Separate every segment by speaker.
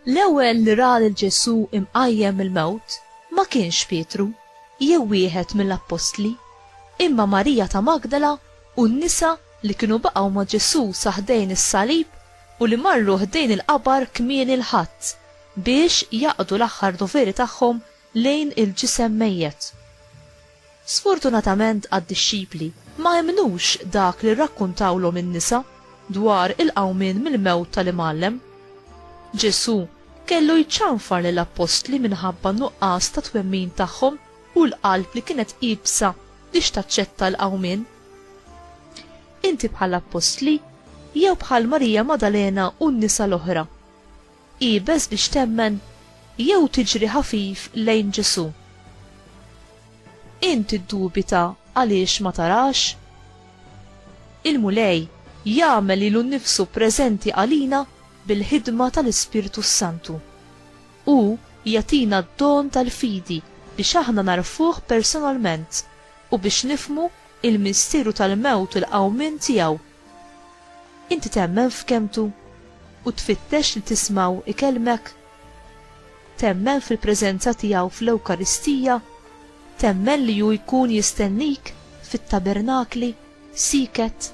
Speaker 1: L-ewwel li ra lil Ġesù imqajjem mill-mewt ma kienx Pietru jew wieħed mill-appostli, imma Marija ta' Magdala u n-nisa li kienu baqgħu ma' Ġesù sa ħdejn is-salib u li marru ħdejn il-qabar kmieni l-Ħadd biex jaqdu l-aħħar doveri tagħhom lejn il-ġisem mejjet. Sfortunatament għad-dixxipli, ma emmnux dak li rrakkuntawlhom in-nisa dwar il-qawmien mill-mewt tal-Imgħallem. Ġesù kellu jċanfar lill-appostli minħabba n-nuqqas ta' twemmin tagħhom u l-qalb li kienet iebsa biex taċċetta l-qawmien. Inti bħal appostli jew bħal Marija Madalena u n-nisa l-oħra. Ibes biex temmen jew tiġri ħafif lejn Ġesu. Inti ddubita għaliex ma tarax? Il-Mulej jagħmel ilu nnifsu preżenti għalina bil-ħidma tal-Ispirtu s-Santu. U jatina d-don tal-fidi biex aħna narfuh personalment u biex nifhmu l-misteru tal-mewt u l-qawmien tiegħu. Inti temmen f'kelmtu u tfittex li tismgħu ikellmek? Temmen fil-preżenza tiegħu fl-Ewkaristija? Temmen li hu jkun jistennik fit-tabernakli, sieket?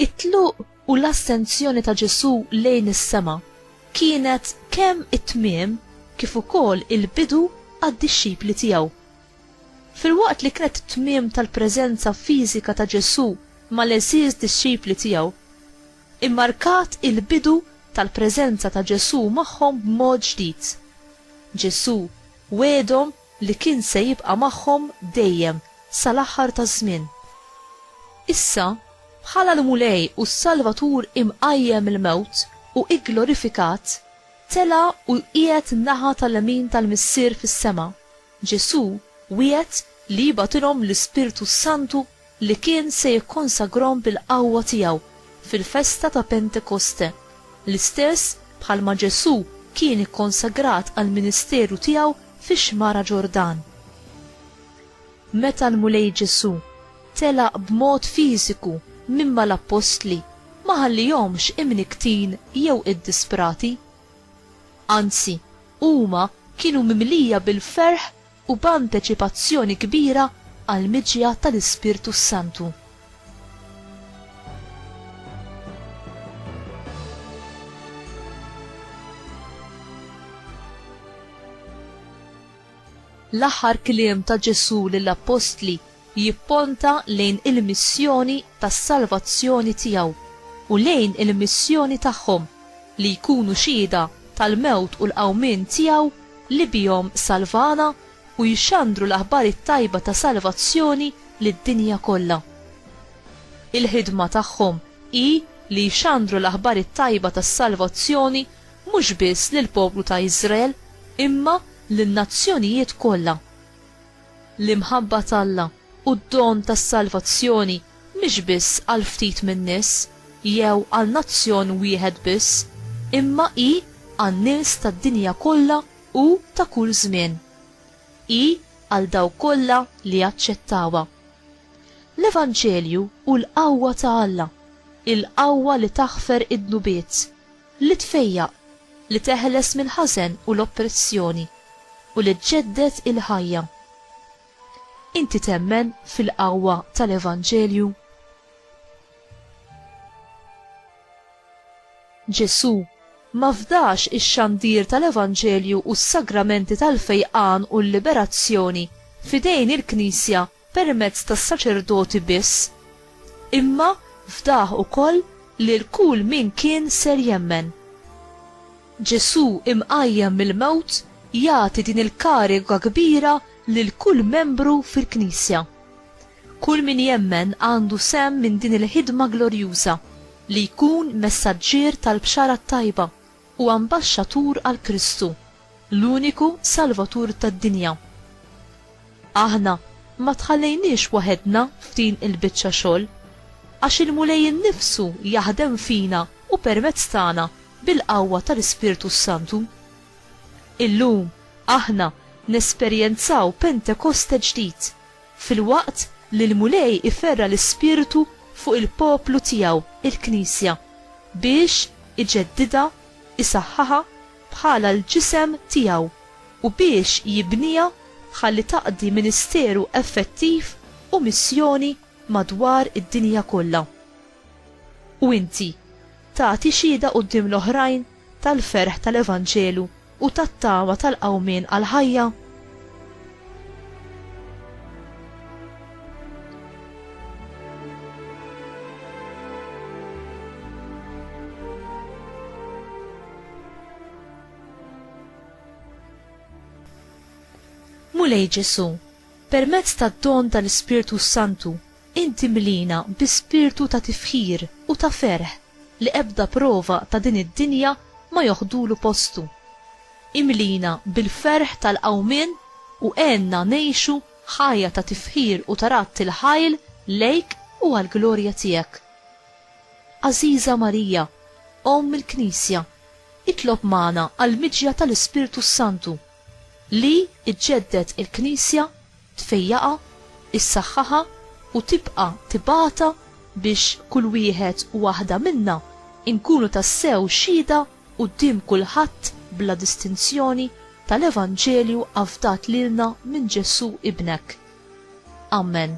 Speaker 1: It-tluq u l-assenzjoni ta' Ġesù lejn is-sema kienet kemm it-tmiem kif ukoll il-bidu għad-dixxipli tiegħu. Filwaqt li kienet it-tmiem tal-preżenza fiżika ta' Ġesù mal-għeżież dixxipli tiegħu, immarkat il-bidu tal-preżenza ta' Ġesù magħhom b'mod ġdid. Ġesù wegħedhom li kien se jibqa' magħhom dejjem sal-aħħar taż-żmien. Issa, bħala l-Mulej u s-Salvatur imqajjem mill-mewt u gglorifikat, tela' u qiegħed naħa tal-lemin tal-Missier fis-sema, Ġesù wiegħed li jibgħatilhom l-Ispirtu s-Santu li kien se jikkonsagrahom bil-qawwa tiegħu fil-festa ta' Pentekoste, l-istess bħalma Ġesù kien ikkonsagrat għall-ministeru tiegħu fix-Xmara Ġordan. Meta l-Mulej Ġesù telaq b'mod fiżiku minn mal-appostli ma ħallihomx imnikktin jew iddisprati. Anzi, huma kienu mimlija bil-ferħ u b'anteċipazzjoni kbira għall-miġja tal-Ispirtu s-Santu. L-aħħar kliem ta' Ġesù lill-appostli jipponta lejn il-missjoni tas-salvazzjoni tiegħu u lejn il-missjoni tagħhom li jkunu xhieda tal-mewt u l-qawmien tiegħu li bihom salvana u jxandru l-aħbar it-tajba ta' salvazzjoni lid-dinja kollha. Il-ħidma tagħhom hi li jxandru l-aħbar it-tajba tas-salvazzjoni mhux biss lill-poplu ta' Iżrael imma lin-nazzjonijiet kollha. L-imħabba t'Alla u d-don tas-salvazzjoni mhix biss għal ftit min-nies jew għal nazzjon wieħed biss, imma hi għan-nies tad-dinja kollha u ta' kull żmien. Hi għal dawk kollha li jaċċettawha. L-Evanġelju hu l-qawwa ta' Alla, il-qawwa li taħfer id-dnubiet. Li tfejjaq, li teħles mill-ħażen u l-oppressjoni, u li ġġedded il-ħajja. Inti temmen fil-qawwa tal-Evanġelju? Ġesù ma fdax ix-xandir tal-Evanġelju u s-sagramenti tal-fejqan u l-liberazzjoni f'idejn il-Knisja permezz tas-saċerdoti biss, imma fdah ukoll lil kull min kien ser jemmen. Ġesù imqajjem mill-mewt jagħti din il-kariga kbira lil kull membru fil-Knisja. Kull min jemmen għandu sehem minn din il-ħidma glorjuża, li jkun messaġġier tal-Bxara t-Tajba. u ambaxxatur għal Kristu, l-uniku Salvatur tad-dinja. Aħna ma tħallejniex waħedna f'din il-biċċa xogħol, għax il-Mulej innifsu jaħdem fina u permezz tagħna bil-qawwa tal-Ispirtu s-Santu. Illum aħna nesperjenzaw Pentekoste ġdid, filwaqt li l-Mulej iferra' l-ispirtu fuq il-poplu tiegħu, il-Knisja, biex iġeddidha, isaħħaha bħala l-ġisem tiegħu u biex jibniha ħalli taqdi ministeru effettiv u missjoni madwar id-dinja kollha. U inti tagħti xhieda quddiem l-oħrajn tal-ferħ tal-evanġelu? u tat-tama tal-qawmien għall-ħajja? Mulej Ġesù, permezz tad-don tal-Ispirtu s-Santu, Int imlina bi spirtu ta' tifħir u ta' ferħ li ebda prova ta' din id-dinja ma joħdulu postu. Imlina bil-ferħ tal-qawmien u għenna ngħixu ħajja ta' tifħir u ta' radd il-ħajl lejk u għall-glorja tiegħek. Għażiża Marija, Omm il-Knisja, itlob magħna għall-miġja tal-Ispirtu s-Santu, li jġedded il-Knisja, tfejjaqha, issaħħaħha u tibqa' tibgħatha biex kull wieħed u waħda minna nkunu tassew xhieda quddiem kulħadd bla distinzjoni tal-Evanġelju afdat lilna minn Ġesù Ibnek. Amen.